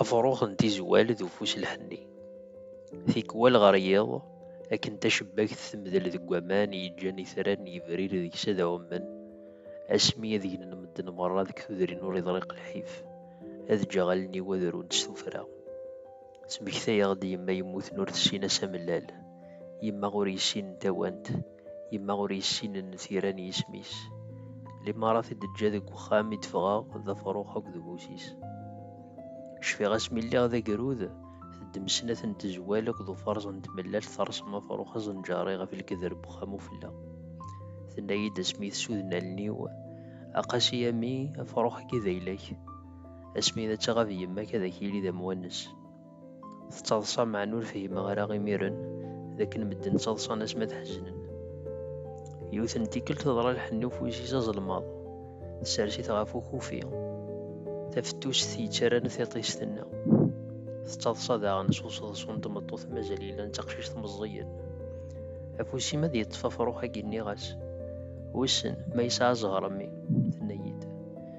Afrux n tizwal d ufus lḥenni. Tikwal ɣer yiḍ, akken tacebbakt temdel deg waman yeǧǧan itran yebrir deg-s ad ɛummen, asmi ad gnen medden merra deg tudrin ur iḍriq lḥif, ad ǧǧeɣ allen-iw ad runt s tuffra. Tmekta-yaɣ-d yemma yemmuten ur tessin ass amellal. yemma ur yessinen tawant, yemma ur yessinen tira n yisem-is. Limarat i d-teǧǧa deg uxxam i d-ffɣeɣ d afrux akked ubus-is. Cfiɣ asmi lliɣ d agrud, teddem snat n tezwal akked uferẓ n tmellalt terṣem afrux azenǧari ɣef lkedr n uxxam ufella. Tenna-yi-d asmi tsuden allen-iw, A Qasi a mmi, afrux-agi d ayla-k. Asmi ad tɣab yemma-k ad ak-yili d amwanes. Tettaḍsa meɛna ur fhimeɣ ara imiren d akken medden ttaḍsan ass ma tḥeznen. Yiwet n tikkelt teḍra lḥenni ufwis-is azelmaḍ, tessers-it ɣef ukufi, tafettust yettarran tiṭ i s-tenna. Tettaḍsa daɣen s useḍsu n tmeṭṭut mazal yellan d taqcict meẓẓiyen. Afus-im ad yeṭṭef afrux-agi nniɣ-as, wissen ma yesɛa zzher a mmi, tenna-yi-d.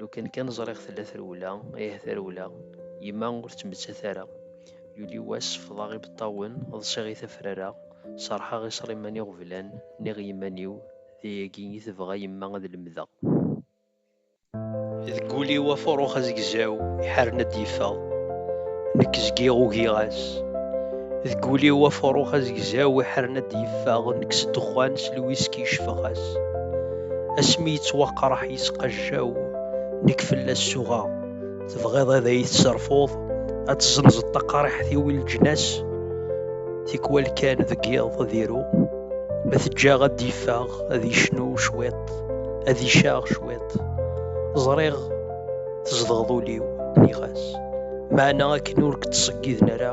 Lukan kan ẓriɣ tella trewla, ih tarewla, yemma ur ttmettat ara. Yuli wass sefḍeɣ ibeṭṭawen, ḍsiɣ i tafrara, serḥeɣ i Sliman Iɣeblan, nniɣ yiman-iw, d ayagi i tebɣa yemma ad lemdeɣ. Deg wul-iw afurux azegzaw iḥaren ad d-yeffeɣ, nekk zgiɣ ugiɣ-as. Deg wul-iw afurux azegzaw iḥaren ad d-yeffeɣ, nekk s ddexxan, s lwiski, cefeɣ-as. asmi yettwaqraḥ yesqajjaw nekk fell-as suɣa tebɣiḍ ad ay-tesserfuḍ ad tezzenzeḍ taqariḥt-iw i leǧnas tikwal kan deg yiḍ ad iru ma teǧǧaɣ ad d-yeffeɣ ad yecnu cwiṭ ad icaɣ cwiṭ ẓriɣ tzedɣeḍ ul-iw nniɣ-as meɛna akken ur k-ttṣeggiden ara